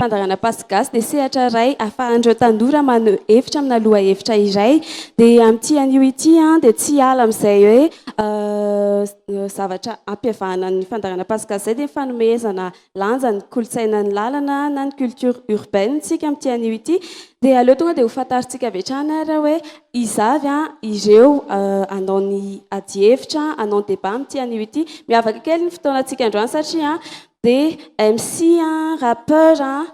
Fandaharana Pasy Gasy dia sehatra iray ahafahan'ireo tanora maneho hevitra amina lohahevitra iray. Dia amin'ity anio ity dia tsy hiala amin'izay hoe zavatra ampihavahana ny fandaharana Pasy Gasy izay dia ny fanomezana lanja ny kolontsainan'ny lalana na ny culture urbaine tsika amin'ity anio ity dia aleo tonga dia ho fantarintsika avy hatrany ary hoe iza avy an ireo hanao ny adihevitra hanao ny débat amin'ity anio ity. Miavaka kely ny fotoanantsika androany satria dia MC an, rappeur an,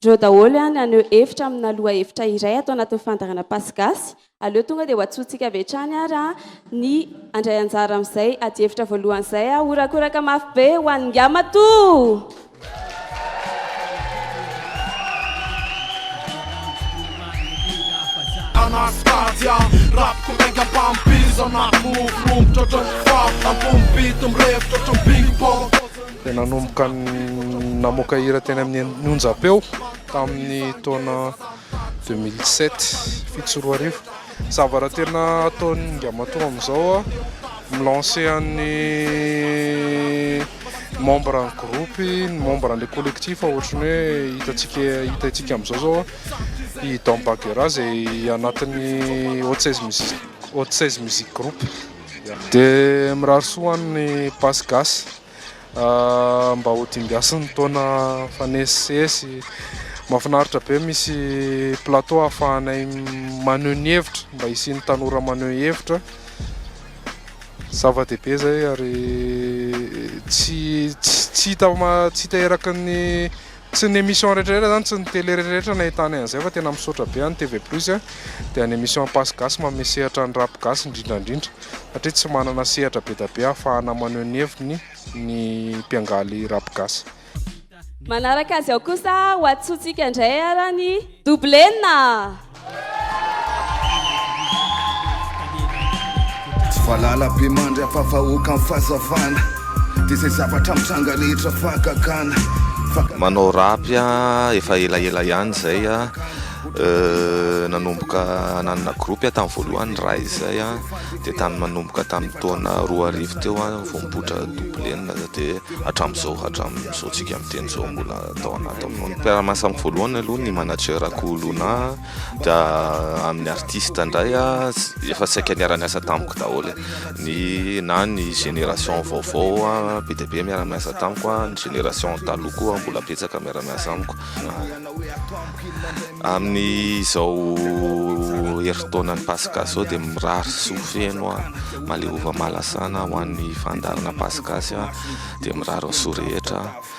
Ndreo daholo ihany haneho hevitra amina lohahevitra iray ato anatin'ny fandaharana Pass Gasy. Aleo tonga dia ho antsointsika avy hatrany ary ny handray anjara amin'izay adihevitra voalohany izay. Horakoraka mafy be ho an'i Ngamatoa! dia nanomboka namoaka hira teny amin'ny onjam-peo tamin'ny taona 2007 fito sy roa arivo zavatra tena ataon'ny Ingamatoa amin'izao milancer an'ny membre ny groupe ny membre an'ilay collectif ohatran'ny hoe hitantsika hitantsika amin'izao zao i Don Bagheera izay anatin'ny haute seize music haute seize music groupe dia mirary soa an'ny Basy Gasy Mba ho dimbiasa ny taona mifanesisesy. Mahafinaritra be misy plateau ahafahanay maneho ny hevitra, mba hisian'ny tanora maneho hevitra. Zava-dehibe izay ary tsy tsy tsy hita eraky ny Tsy ny emission rehetra rehetra zany, tsy ny télé rehetra rehetra nahitany an'izay fa tena misaotra be any TV plus a, dia ny emission Ampaso Gasy manome sehatra ny rap gasy indrindra indrindra satria tsy manana sehatra be da be ahafahana maneho ny heviny ny mpiangaly rap gasy. Manaraka azy ao kosa ho atsontsika indray ara ny double enina. Tsy valala be mandry afa-vahoaka ny fahazavana Dia izay zavatra mitranga rehetra fahagagana Manao rap aho efa elaela ihany izay Nanomboka nanana groupe aho tamin'ny voalohany Rise izay Dia tamin'ny manomboka tamin'ny taona roa arivo teo aho vao nipoitra Double N Dia hatramin'izao hatramin'izao tsika miteny izao mbola Taona ataovy mpiara-miasa amiko voalohany aloha ny manager ako Luna dia amin'ny artiste indray efa saika niara-niasa tamiko daholo ny na ny génération vaovao be dia be miara-miasa tamiko ny génération taloha koa mbola betsaka miara-miasa amiko amin'ny izao herintaonan'ny Paska izao dia mirary soa feno aho maleova mahalasana ho an'ny fandaharana Paska dia mirary ny soa rehetra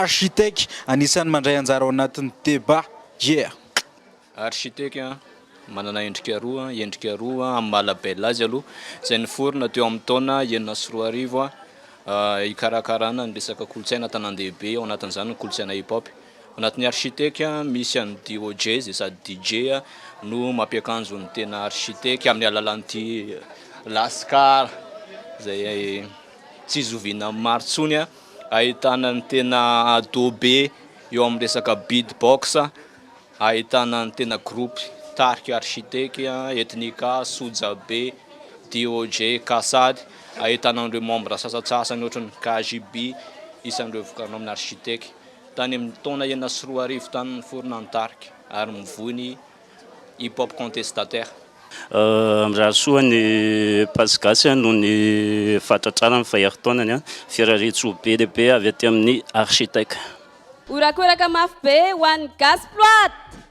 Architec anisan'ny mandray anjara ao anatin'ny débat. Yeah! Architec manana endrika roa, endrika roa amin'ny maha label azy aloha, izay niforona teo amin'ny taona enina sy roa arivo, hikarakarana ny resaka kolontsaina an-tanàn-dehibe, ao anatin'izany ny kolontsaina hip-hop. Anatin'ny architecte, misy an'i DOJ izay sady DJ no mampiakanjo ny tena architecte amin'ny alalan'ity Lascar izay tsy zoviana amin'ny maro intsony, ahitana ny tena ado be eo amin'ny resaka beatbox, ahitana ny tena groupe tarika architecte, Ethnica, Sojabe, DOJ, Kassad, ahitana an'ireo membres sasantsasany ohatran'ny KJB, isan'ireo vokarina ao amin'ny architecte. Tany amin'ny taona enina sy roa arivo tany niforona ny tarika ary mivoy ny Hip Hop Contestataire. Mirarisoa an'i Pass Gasy noho ny fahatratrarany ny faherintaonany, firariantsoa be dia be avy aty amin'ny Architec. Horakoraka mafy be ho an'ny Gasy Ploite!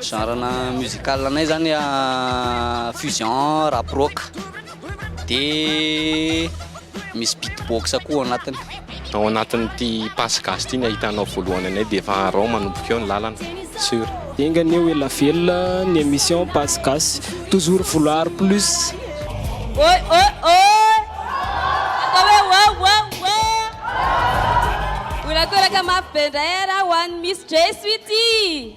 Genre-na musical anay zany fusion, rap rock, de misy beat box koa ao anatiny. Ao anatin'ity Passe Gasy ity ny ahitanao voalohany anay dia efa arao manomboka eo ny lalana, sur. Enga anie ho ela velona ny emission Passe Gasy, toujours vouloir plus. Oy oy oy! Atao hoe wow wow wow! Mbola toraka mafy be indray ara ho an'i Miss Jesso ity!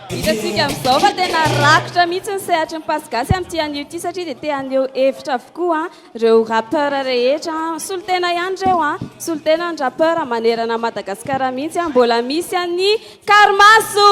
Hitantsika amin'izao fa tena rakotra mihitsy ny sehatry ny Pass gasy amin'ity anio ity satria dia te haneho hevitra avokoa ireo rappeurs rehetra. Solontena ihany ireo an! Solontena ny rappeurs manerana an'i Madagasikara mihitsy an! Mbola misy an'i Karimaso!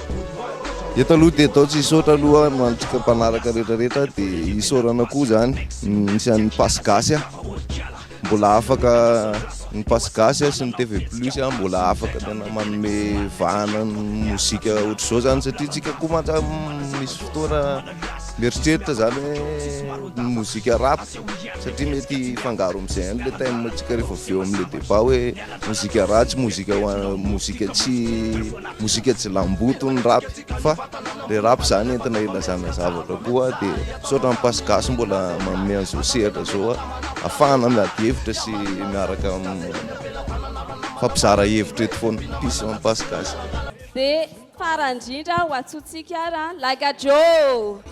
Eto aloha dia atao tsy hisaotra aloha no antsika mpanaraka rehetra rehetra dia hisaorana koa zany nisy an'ny Pass Gasy ah. Mbola afaka ny Pass Gasy ah, sy ny TV Plus ah, mbola afaka tena manome vahana ny mozika ohatr'izao zany satria tsika koa mantsy ah, m- misy fotoana mieritreritra zany hoe ny mozika rap satria mety hifangaro amin'izay ihany le thème antsika rehefa avy eo amin'le débat hoe mozika ratsy, mozika ho an- mozika tsy Mozika tsy lamboto ny rap fa le rap zany entina ilazana zavatra koa de misaotra ny Pass Gasy mbola manome an'izao sehatra zao ahafahana miady hevitra sy miaraka mifampizara hevitra eto foana. Peace amin'ny Pass Gasy. Dia farany indrindra ho antsontsika ary an! Like a Joe!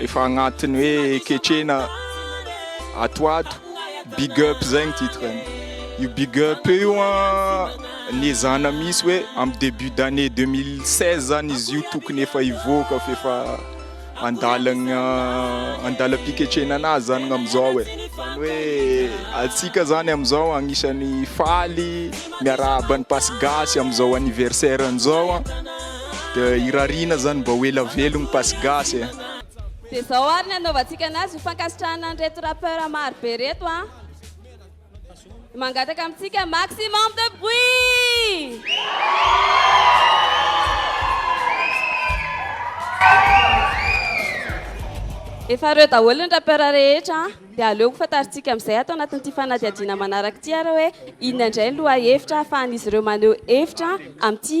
Efa agnatiny hoe ketrena ato ato big up zay ny titre ny io big up io an ny ezahana misy hoe am debut d'année 2016 zany izy io tokony efa hivoaka f'efa andalagna andalam-piketrena anazy zany ny amizao e zany hoe antsika zany amizao agnisan'ny faly miarahaba an'i Pasigasy amizao anniversaire an'izao an. dia irariana zany mba ho ela velogno pasy gasy e. Dia zao ary ny anaovantsika anazy ho fankasitrahana an'ireto rappeur maro be reto an! Mangataka amintsika maximum de bruit! Efa ireo daholo ny rappeur rehetra an! Dia aleo ho fantarintsika amin'izay ato anatin'ity fanadihadiana manaraka ity ary hoe inona indray ny lohahevitra ahafahan'izy ireo maneho hevitra amin'ity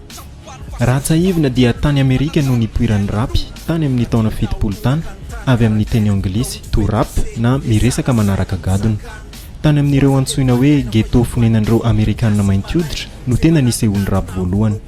Raha tsahivina dia tany Amerika no nipoiran'ny rap tany amin'ny taona fitopolo tany, avy amin'ny teny anglisy to rap na miresaka manaraka gadona. Tany amin'ireo antsoina hoe ghetto fonenan'ireo Amerikana mainty hoditra no tena nisehoan'ny rap voalohany.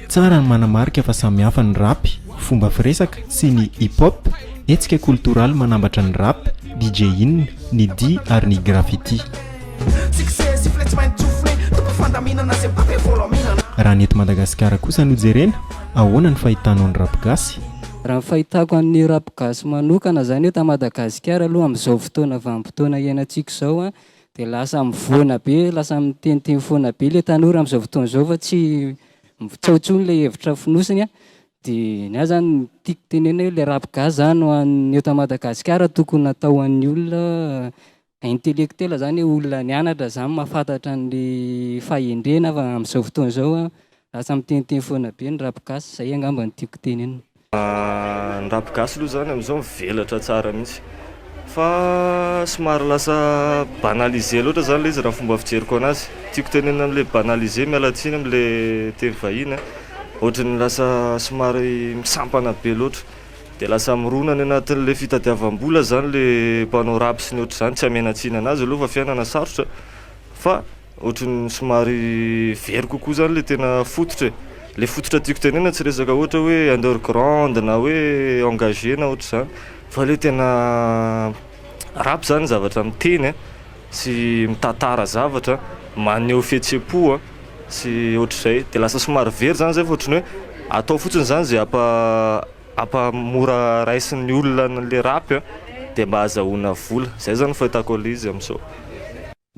Tsara ny manamarika fa samy hafa ny rap, fomba firesaka, sy ny hip-hop, hetsika kolotoraly manambatra ny rap, DJ-ing, ny dihy ary ny graffiti. Raha ny eto Madagasikara kosa no jerena, ahoana ny fahitanao ny rap gasy? Raha ny fahitako an'ny rap gasy manokana izany eto Madagasikara aloha amin'izao fotoana vanim-potoana iainantsika izao Dia lasa mivoana be, lasa miteniteny foana be ilay tanora amin'izao fotoana izao fa tsy tsaho intsony ilay hevitra fonosiny. Dia ny ahy izany no tiako tenenina hoe ilay rap gasy izany ho an'ny eto Madagasikara tokony hatao ho an'ny olona intellectuel izany hoe olona nianatra izany mahafantatra an'ilay fahendrena fa amin'izao fotoana izao Lasa miteniteny foana be ny rap gasy, izay angamba no tiako tenenina. Ny rap gasy aloha izany amin'izao mivelatra tsara mihitsy fa somary lasa banalisé loatra izany ilay izy raha ny fomba fijeriko an'azy. Tiako tenenina amin'ilay banalisé, miala tsiny amin'ilay teny vahiny an, ohatran'ny lasa somary misampana be loatra dia lasa mirona any anatin'ilay fitadiavam-bola izany ilay mpanao rap sy ny ohatr'izany, tsy hamena-tsiny an'azy aloha fa fiainana sarotra fa. Ohatran'ny somary very kokoa zany le tena fototra e. Le fototra tiako tenenina tsy resaka ohatra hoe underground na hoe engagé na ohatr'izany fa le tena rap zany zavatra miteny a sy mitantara zavatra, maneho fihetsem-po a sy ohatr'izay. De lasa somary very zany zay fa ohatry ny hoe atao fotsiny zany zay ampa- ampamora raisin'ny olona an'le rap a de mba azahoana vola. Zay zany fahitako an'le izy am'zao.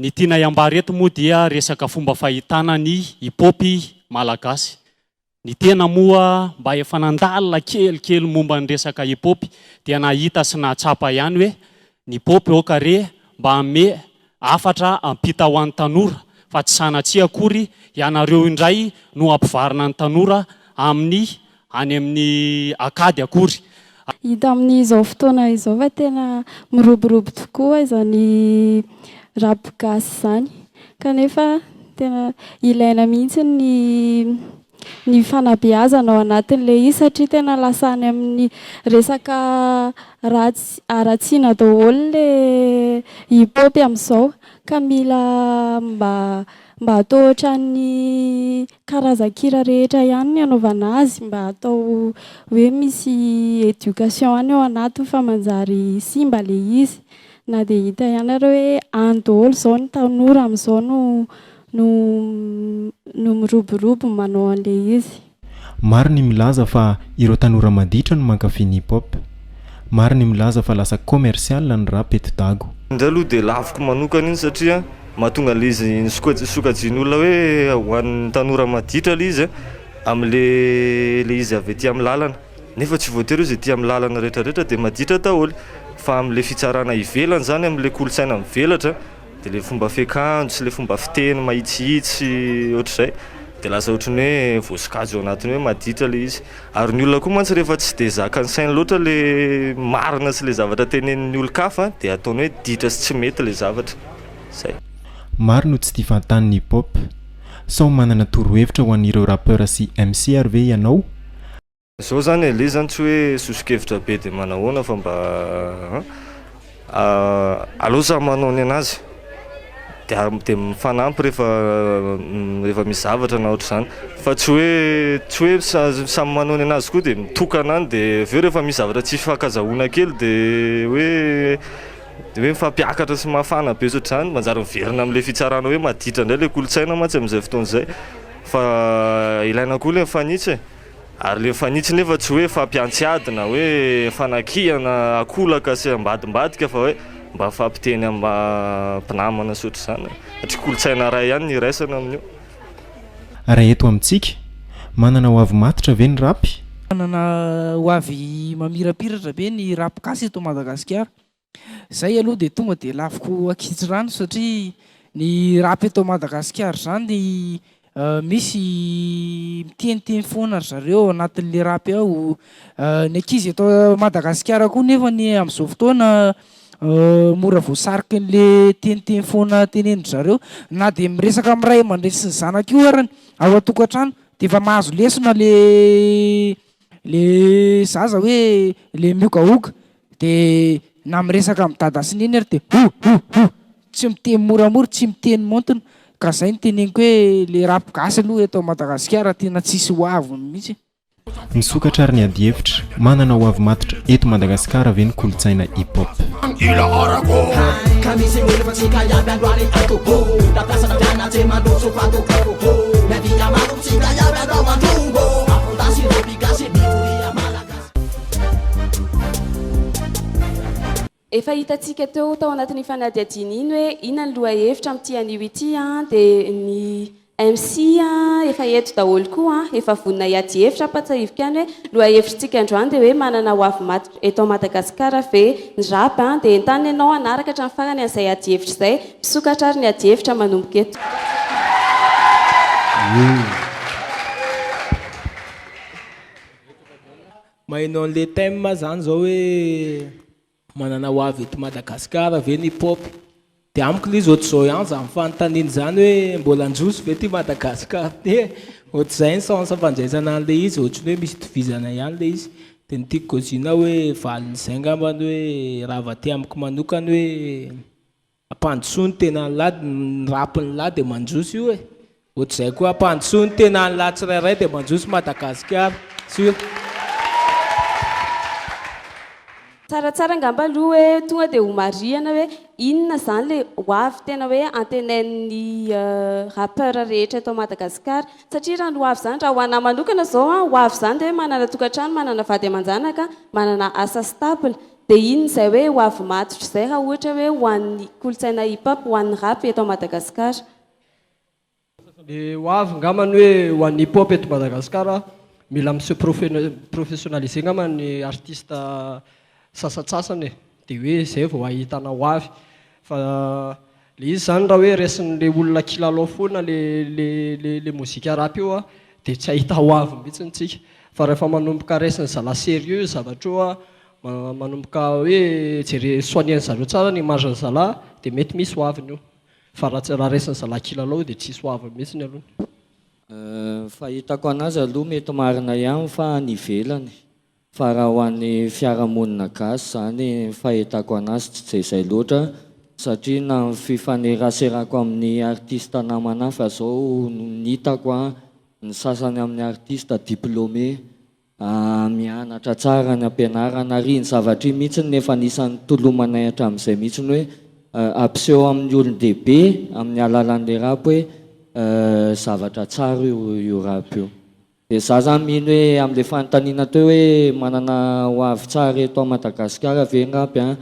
Ny tianay ambara eto moa dia resaka fomba fahitana ny hip hop malagasy. Ny tena moa mba efa nandalina kelikely momba ny resaka hip hop dia nahita sy nahatsapa ihany hoe ny hip hop aoka re mba hanome hafatra hampita ho an'ny tanora fa tsy sanatria akory ianareo indray no hampivarina ny tanora amin'ny any amin'ny akady akory. Hita amin'izao fotoana izao fa tena miroborobo tokoa izany rap gasy izany kanefa tena ilaina mihitsy ny ny fanabeazana ao anatin'ilay izy satria tena lasa any amin'ny resaka ratsy haratsiana daholo ilay hip hop amin'izao ka mila mba mba atao ohatran'ny karazan-kira rehetra ihany ny anaovana azy mba atao hoe misy education ihany ao anatiny fa manjary simba le izy na dia hita ihany ary hoe any daholo zao ny tanora amizao no no no miroborobo manao anle izy. Maro ny milaza fa ireo tanora maditra no mankafy ny hip hop. Maro ny milaza fa lasa commercial ny rap eto Dago. Indray aloha dia laviko manokana iny satria. Mahatonga ilay izy soka- sokajian'olona hoe ho an'ny tanora maditra ilay izy amin'ilay ilay izy avy aty amin'ny lalana, nefa tsy voatery hoe izay aty amin'ny lalana rehetrarehetra dia maditra daholo fa amin'ilay fitsarana ivelany izany, amin'ilay kolontsaina mivelatra dia ilay fomba fiakanjo sy ilay fomba fiteny mahitsihitsy ohatr'izay dia lasa ohatry ny hoe voasokajy ao anatin'ny hoe maditra ilay izy, ary ny olona koa mantsy rehefa tsy dia zakan'ny sainy loatra ilay marina sy ilay zavatra tenenin'ny olon-kafa dia ataony hoe ditra sy tsy mety ilay zavatra. Zay. Maro no tsy tia fahantany ny hip hop. Sao manana torohevitra ho an'ireo rappeurs sy MC ary ve ianao? Zao zany aleha zany tsy hoe sosokevitra be de manahoana fa mba a aleo samy manao ny anazy de ary de mifanampy rehefa rehefa misy zavatra na ohatr'izany fa tsy hoe tsy hoe samy manao ny anazy koa de mitokana any de avy eo rehefa misy zavatra tsy hifankazahoana kely de hoe Dia hoe mifampiakatra sy mafana be ohatr'izany, manjary miverina amin'ilay fitsarana hoe maditra indray ilay kolontsaina mantsy amin'izay fotoana izay fa ilaina koa ilay mifanitsy e! ary ilay mifanitsy nefa tsy hoe fampiantsy ady na hoe fanakihana ankolaka sy ambadimbadika fa hoe mba mifampiteny maha-mpinamana sy ohatr'izany e! satria kolontsaina iray ihany no iraisana amin'io. Ary eto amintsika? Manana ho avy matotra ve ny rap? Manana ho avy mamirapiratra ve ny rap gasy eto Madagasikara? Zay aloha dia tonga dia laviko ankitsirano satria ny rap eto Madagasikara zany misy miteniteny foana ry zareo ao anatin'le rap ao, ny ankizy eto Madagasikara koa nefany amzao fotoana mora voasariky anle teniteny foana tenenindry zareo na dia miresaka amin'ny ray aman-dreny sy ny zanaka io arany ao an-tokantrano dia efa mahazo lesona le le zaza hoe le miogaoga Dia na miresaka amin'i Dada sy Neny ary dia ho! ho! ho! Tsy miteny moramora, tsy miteny maontina. Ka izay no teneniko hoe ilay rap gasy aloha eto Madagasikara tena tsisy ho avy mihitsy. Misokatra ary ny adihevitra, manana ho avy matotra eto Madagasikara ve ny kolontsaina hip hop? Efa hitantsika teo tao anatin'ny fanadihadiana iny hoe inona ny lohahevitra amin'ity anio ity dia ny MC efa eto daholo koa, efa vonona hiady hevitra. Ampahatsahiviko ihany hoe lohahevitritsika androany dia hoe manana hoavy maty eto Madagasikara ve ny rap dia entanina ianao hanaraka hatramin'ny farany an'izay ady hevitra izay. Misokatra ary ny ady hevitra manomboka eto. Maheno an'le thème zany zao hoe manana ho avy eto Madagascar ve ny pop de amiko le izy ohatr'izao ihany zany fanontaniana zany hoe mbola handroso ve ty Madagascar ty e, ohatr'izay ny sens fandraisana an'le izy ohatry ny hoe misy itovizana ihany le izy de ny tiako gazina hoe valin'izay ngambany hoe raha vao aty amiko manokana hoe Ampandrosoa ny tenan'lah ny rampin'lah dia mandroso io e! Ohatr'izay koa ampandrosoa ny tenan'lah tsirairay dia mandroso Madagasikara! Sûr! Tsaratsara angamba aloha hoe tonga dia homarihana hoe inona izany ilay ho avy tena hoe antenain'ny rappeurs rehetra eto Madagasikara. Satria raha ny ho avy izany, raha ho anah manokana izao, ho avy izany dia hoe manana tokantrano, manana vady aman-janaka, manana asa stable. Dia iny izay hoe ho avy matotra izay raha ohatra hoe ho an'ny kolontsaina hip hop, ho an'ny rap eto Madagasikara. Dia ho avy ngamba ny hoe ho an'ny hip hop eto Madagasikara, mila mi se professionnaliser ngamba ny artiste sasatsasany e. Dia hoe izay vao ahitana ho avy fa. Le izy zany raha hoe resin'le olona kilalao foana le le le le mozika rap io a de tsy ahita ho avy mihitsiny tsika fa rehefa manomboka resiny zala serieux io zavatra io a manomboka hoe jere soigner-ny zareo tsara ny image-ny zala de mety misy ho aviny io fa raha tsy raha resin'ny zala kilalao io de tsisy ho aviny mihitsiny aloha ny fahitako anazy aloha mety marina ihany fa any ivelany Fa raha ho an'ny fiarahamonina gasy izany fahitako anazy tsy dia izay loatra satria na ny fifaneraserako amin'ny artiste namana hafa izao ny hitako an, ny sasany amin'ny artiste diplômé mianatra tsara any am-pianarana ary iny zavatra iny mihitsy no efa anisan'ny nitolomanay hatramin'izay mihitsy hoe hampiseho amin'ny olon-dehibe amin'ny alalan'ilay rap hoe zavatra tsara io rap io. Dia za zany mino hoe amle fanontaniana teo hoe manana ho avy tsara eto Madagascar ve ngapy an!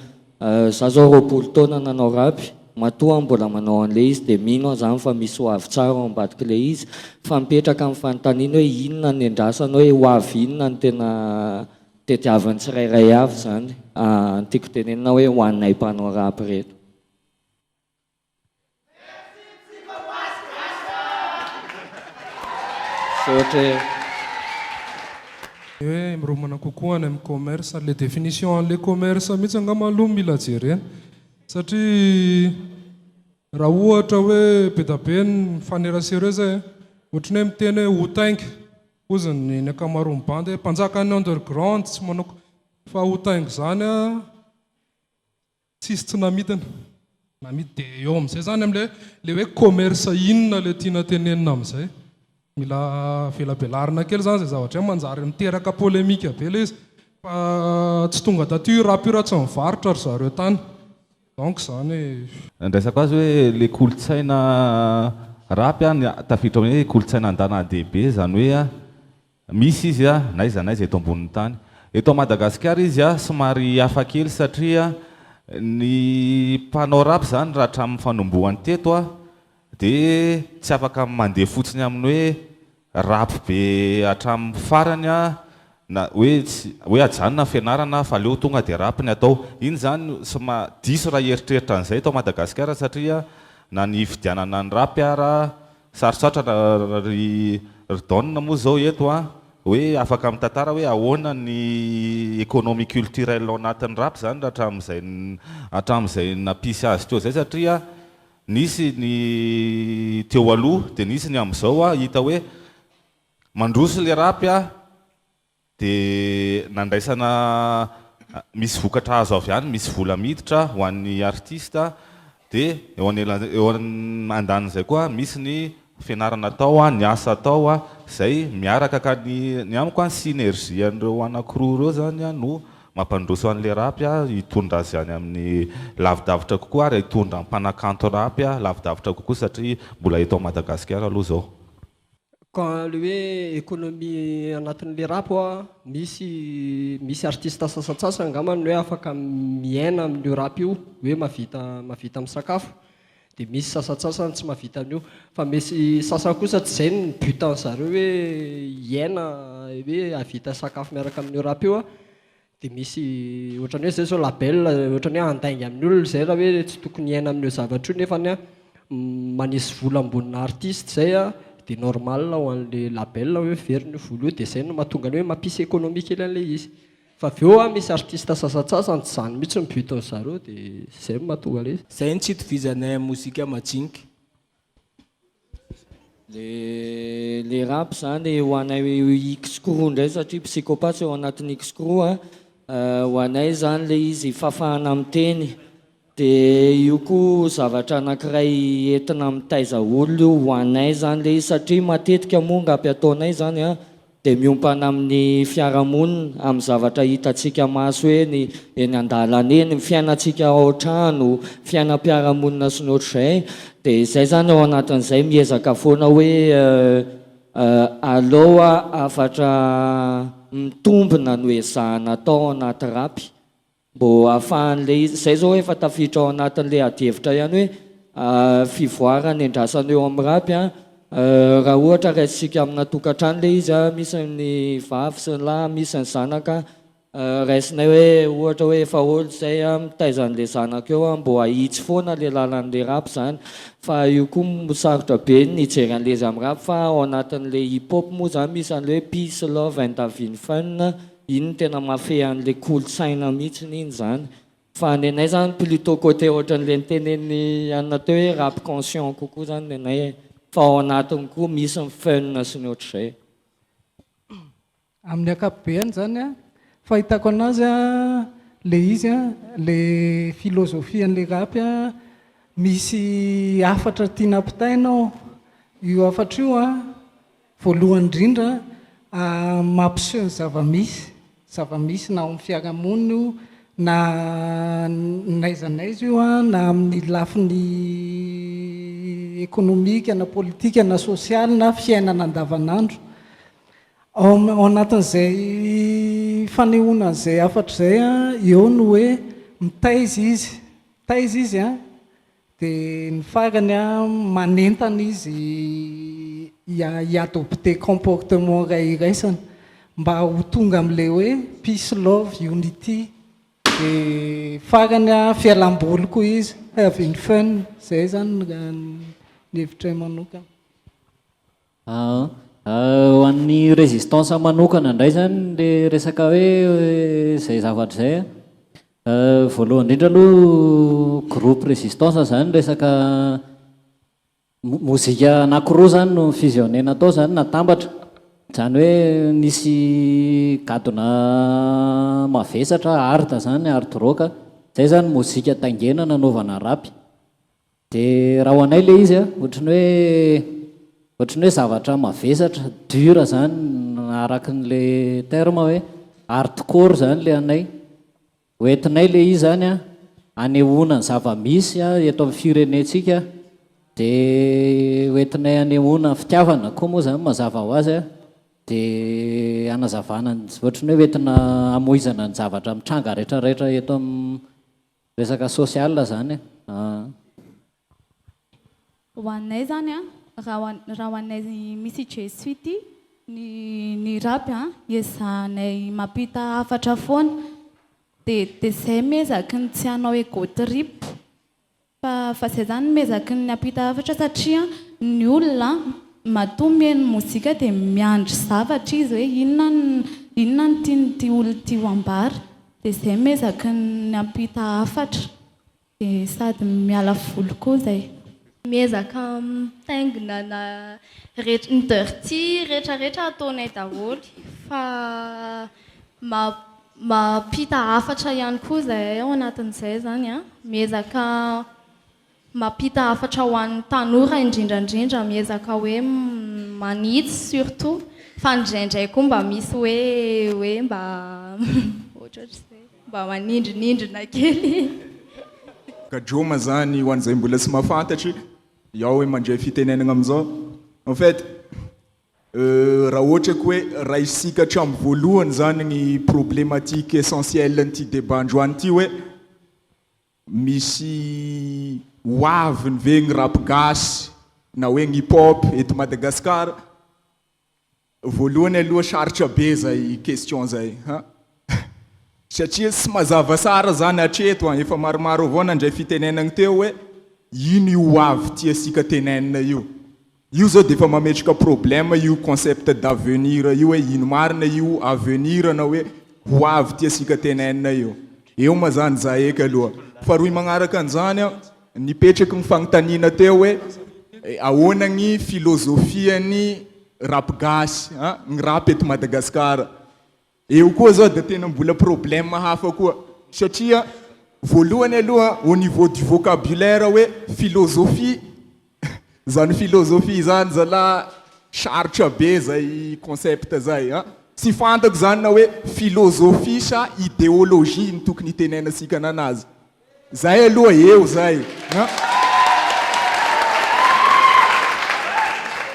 za zao roapolo taona nanao rap, matoa mbola manao anle izy dia mino aho zany fa misy ho avy tsara ao ambadikle izy, fa mipetraka ny fanontaniana hoe inona ny endrasana hoe ho avy inona no tena tediavin'ny tsirairay avy zany an! tiako tenenina hoe ho anay mpanao rap reto. Hoe miromana kokoa any amin'ny commerce, le definition an'le commerce mihitsy angamba aloha no mila jerena satria raha ohatra hoe be da be ny mifanerasera eo zay ohatran'ny hoe miteny hoe ho tainga hozy ny ny ankamaroan'ny bandy hoe mpanjakan'ny underground tsy manao ko, fa ho tainga zany an. Tsisy tsy namidiny, namidy dia eo amin'izay zany amin'ilay hoe le hoe commerce inona le tiana tenenina amin'izay? Mila avelabelarina kely zany izay zavatra izay, manjary miteraka polemique be ilay izy fa tsy tonga taty io rap io raha tsy nivarotra ry zareo tany donc zany hoe. Andraisako azy hoe le kolontsaina rap a tafiditra hoe kolontsaina andanahadibe zany hoe a Misy izy n'aiza n'aiza eto ambonin'ny tany. Eto Madagasikara izy somary hafa kely satria ny mpanao rap izany raha hatramin'ny fanombohany teto dia tsy afaka mandeha fotsiny amin'ny hoe rap be hatramin'ny farany na hoe tsy hoe ajanona ny fianarana aho fa aleo tonga dia rap ny atao. Iny izany soma diso raha hieritreritra an'izay eto Madagasikara satria na ny hifidianana ny rap ara Sarosarotra ry ry Don moa zao eto an! Hoe afaka mitantara hoe ahoana ny economie culturelle ao anatin'ny rap zany raha hatramin'izay hatramin'izay nampisy azy teo zay satria nisy ny teo aloha dia nisy ny amin'izao an! Hita hoe mandroso ilay rap an! dia nandraisana misy vokatra azo avy any, misy vola miditra ho an'ny artista, dia eo anelanelan'izay, eo andanin'izay koa misy ny fianarana atao, ny asa atao, izay miaraka ka ny ny amiko a ny synergie an'ireo anankiroa ireo izany a no mampandroso an'ilay rap a hitondra azy any amin'ny lavidavitra kokoa ary hitondra mpanakanto rap lavidavitra kokoa satria mbola eto Madagasikara aloha izao. Ka le hoe economie anatin'ny le rap hoa misy misy artiste sasantsasany angamba ny hoe afaka miaina amin'io rap io hoe mavita mavita misakafo de misy sasantsasany tsy mavita an'io fa misy sasany kosa tsy zay ny but an'zareo hoe hiaina hoe havita sakafo miaraka amin'io rap io Dia misy ohatran'ny hoe izay izao label ohatran'ny hoe handainga amin'ny olona izay raha hoe tsy tokony hiaina amin'io zavatra io nefany an manisy vola ambonina artiste izay an dia normal ho an'ilay label hoe heveriny io vola io dia izay no mahatonga ny hoe mampisy économie kely an'ilay izy. Fa avy eo an misy artiste sasantsasany tsy izany mihitsy ny but-n'izareo dia izay no mahatonga ilay izy. Izay no tsy itovizanay amin'ny mozika majinika. Le le rap zany ho anay X-crew indray satria psychopathe ao anatin'ny X-crew a, ho anay zany le izy fafana miteny, de io koa zavatra anankiray entina mitaiza olona io ho anay zany le izy satria matetika moa angapy ataonay zany a, dia miompana amin'ny fiarahamonina, amin'ny zavatra hitantsika maso eny eny an-dalana eny, ny fiainantsika ao an-trano, fiainam-piarahamonina sy ny ohatr'izay, dia izay izany ao anatin'izay miezaka foana hoe aleo hafatra mitombina no ezahina atao ao anaty rap. Mbo ahafahan'ilay izy, izay izao efa tafiditra ao anatin'ilay adihevitra ihany hoe fivoarana iandrasana eo amin'ny raby an, raha ohatra raisintsika amina tokantrano ilay izy an, misy ny vavy sy ny lahy, misy ny zanaka an, raisinay hoe ohatra hoe efa ol izay an, mitaiza an'ilay zanaka eo an, mbo hahitsy foana ilay lalan'ilay raby izany, fa io koa sarotra be ny hijery an'ilay izy amin'ny raby, fa ao anatin'ilay hip hop moa izany misy an'ilay hoe peace, love and having fun, Iny tena mahafehy anle kolotsaina mitsiny iny zany fa ny anay zany plutot cote otranle niteneniny anina teo hoe rap conscient kokoa zany ny anay e fa ao anatiny koa misy ny fun sy ny otrzay. Amin'ny akapobeany zany a fahitako anazy a le izy a le philosophie anle rap a misy hafatra tiana ampitaina ao io hafatra io a Voalohany indrindra, mampiseho ny zava-misy, zava-misy na ao amin'ny fiarahamonina io na n'aiza n'aiza io, na amin'ny lafiny ekonomika na politika na sosialy na fiainana andavanandro. Ao anatin'izay fanehoana an'izay hafatra izay eo no hoe mitaiza izy, mitaiza izy Dia ny farany manentana izy hi-adopter comportement iray iraisana mba ho tonga amin'ilay hoe peace, love, unity. Dia farany fialam-boly koa izy, having fun. Izay izany ny hevitray manokana. Ho an'ny résistance manokana indray izany ilay resaka hoe izay zavatra izay an, voalohany indrindra aloha groupe résistance izany resaka mozika anakiroa izany no ni-fusionner-na tao izany natambatra, izany hoe nisy gadona mavesatra hard izany hard rock, izay izany mozika taingena nanaovana rap. De raha ho anay le izy a, ohatran'ny hoe ohatran'ny hoe zavatra mavesatra, dur zany araky ny le terme hoe hardcore zany le anay. Ho entinay le izy zany a, hanehoana ny zava-misy a eto amin'ny firenentsika de ho entinay hanehoana fitiavana koa moa zany mazava ho azy a, de hanazavana ny ohatran'ny hoe ho entina hamoizana ny zavatra mitranga retraretra eto amin'ny Resaka social zany e an. Ho anay zany an, raha raha ho anay misy i Jesoa ity, ny ny rap an iezahanay mampita hafatra foana, de de zay miezaky ny tsy hanao ego trip, fa fa zay zany miezaky ny hampita hafatra satria ny olona an matoa mihaino mozika de miandry zavatra izy hoe inona inona no tian'ity olona ity ho ambara, Dia zay miezaky ny hampita hafatra dia sady miala voly koa zay. Miezaka mitaingina na rehetra ny dirty rehetra rehetra ataonay daholo fa mampita hafatra ihany koa zahay ao anatin'izay zany an miezaka Mampita hafatra ho an'ny tanora indrindra indrindra miezaka hoe manitsy surtout fa indraindray koa mba misy hoe hoe mba ohatraohatrizay mba manindrinindrina kely. Gadroma zany ho an'izay mbola tsy mahafantatry Iao hoe mandray fitenenagna amin'izao en fait raha ohatra ka hoe raisika hatramin'ny voalohany zany ny problematique essentielle an'ity débat androany ity hoe Misy ho aviny ve gny rap gasy na hoe gny hip hop eto Madagascar? Voalohany aloha sarotra be zay question zay an! Satria tsy mazava tsara zany hatreto an! Efa maromaro avao nandray fitenenagny teo hoe ino io ho avy tiatsika tenenina io? Io zao dia efa mametraka problème io concept d'avenir io hoe ino marina io avenir na hoe ho avy tiasika tenainina io. Eo ma zany za eky aloha. Faharoy magnaraka an'izany an, nipetraky ny fagnontaniana teo hoe ahoana gny filôzôfian'ny rap gasy an, gny rap eto Madagasikara. Eo koa zao dia tena mbola problème hafa koa satria voalohany aloha au niveau du vocabulaire hoe philosophie zany philosophie zany zalah sarotra be zay concept zay an! tsy fantako zany na hoe philosophie sa idéologie no tokony hitenenantsika ananazy Zay aloha eo zay an!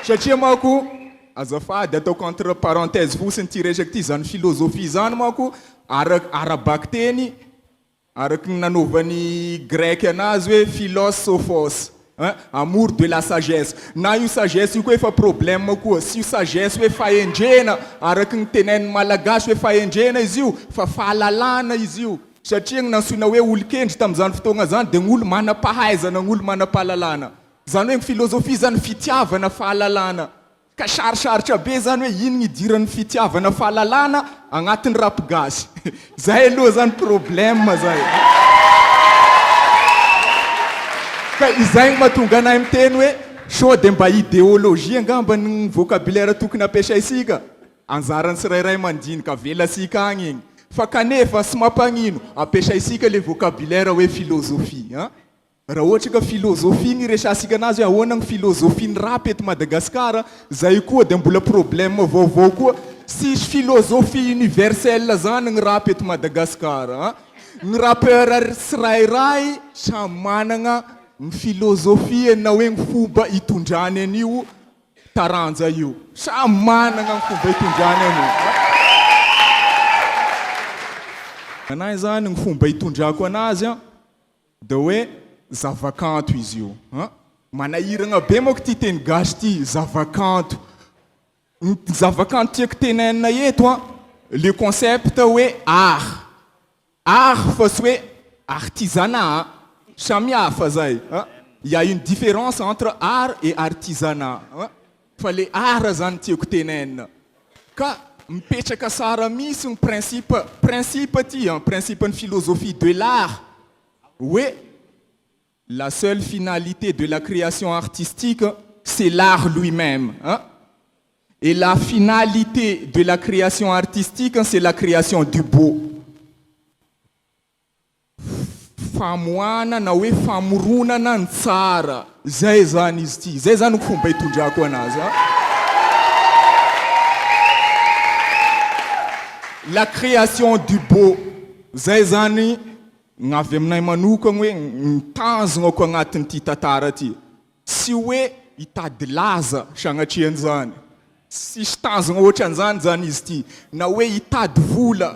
Satria manko, azafady ataoko entre parenthèse fotsiny ity resaka ity, zany philosophie zany manko ara ara-bakiteny, araky ny nanaovan'ny grec anazy hoe philos sophos, Hein, amour de la sagesse. Na io sagesse io koa efa problème koa. Tsy io sagesse hoe fahendrena araky ny tenenin'ny Malagasy hoe fahendrena izy io fa fahalalana izy io. Satria ny nantsoina hoe olon-kendry tamin'izany fotoagna izany dia ny olo manam-pahaizana, ny olo manam-pahalalana. Izany hoe ny filôzôfia izany fitiavana fahalalana. Ka sarosarotra be zany hoe ino ny idiran'ny fitiavana fahalalana agnatin'ny rap gasy. Zay aloha zany problème zay. Ka izay no mahatonga anay miteny hoe sao dia mba idéologie angamba ny vocabulaire tokony ampiasaintsika? Anjaran'ny tsirairay mandinika avelantsika agny igny. Fa kanefa, tsy mampanino, ampiasaintsika le vocabulaire hoe philosophie an! Raha ohatra ka philosophie ny iresahantsika anazy hoe ahoana ny philosophie ny rap eto Madagascar, zay koa dia mbola problème vaovao koa, tsisy philosophie universelle zany ny rap eto Madagascar a! Ny rappeur tsirairay samy managna ny philosophie-ny na hoe ny fomba itondrany an'io taranja io, samy managna ny fomba itondrany an'io a! Anahy zany ny fomba itondrako anazy a! Dia hoe zavakanto izy io an! Manahiragna be manko ity teny gasy ity, zavakanto. Ny zavakanto tiako tenainina eto an, le concept hoe art. Art fa tsy hoe artisanat an! Samihafa zay an! Il y a une différence entre art et artisanat an! Fa le art zany tiako tenaina ka mipetraka sara mihintsy ny principe principe aty an, principe ny philosophie de l'art hoe la seule finalité de la création artistique c'est l'art lui meme an! et la finalité de la création artistique c'est la création du beau. famoahana na hoe famoronana ny tsara. Izay izany izy ity. Izay izany no fomba itondrako anazy. La création du beau. Izay izany ny avy aminay manokana hoe ny tanjonako agnatin'ity tantara ity. Tsy hoe hitady laza sagnatria an'izany. Tsisy tanjona ohatran'izany izany izy ity. Na hoe hitady vola.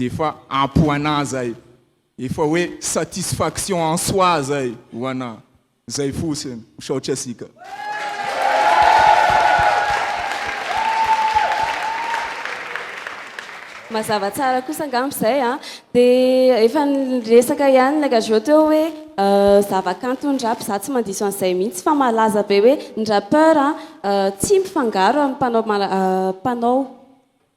Dia efa ampy ho anà izay. Efa hoe satisfaction en soi izay ho anà. Izay fotsiny. Misaotra isika. Mazava tsara kosa angamba izay an. Dia efa niresaka ihany ilay Gageot teo hoe zavakanton'ny rap izaho tsy mandiso an'izay mihitsy fa malaza be hoe ny rappeur tsy mifangaro amin'ny mpanao mpanao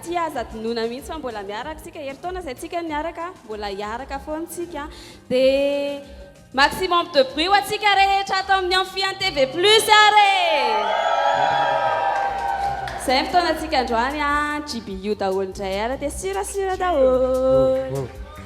Tsy azo adinoina mihitsy fa mbola miaraka tsika, herintaona zay tsika niaraka, mbola hiaraka foana tsika, dia maximum de bruit ho antsika rehetra ato amin'ny Amphian TV plus ary e! Zay ny fotoana antsika androany an, JBU daholo indray ary dia sirasira daholo.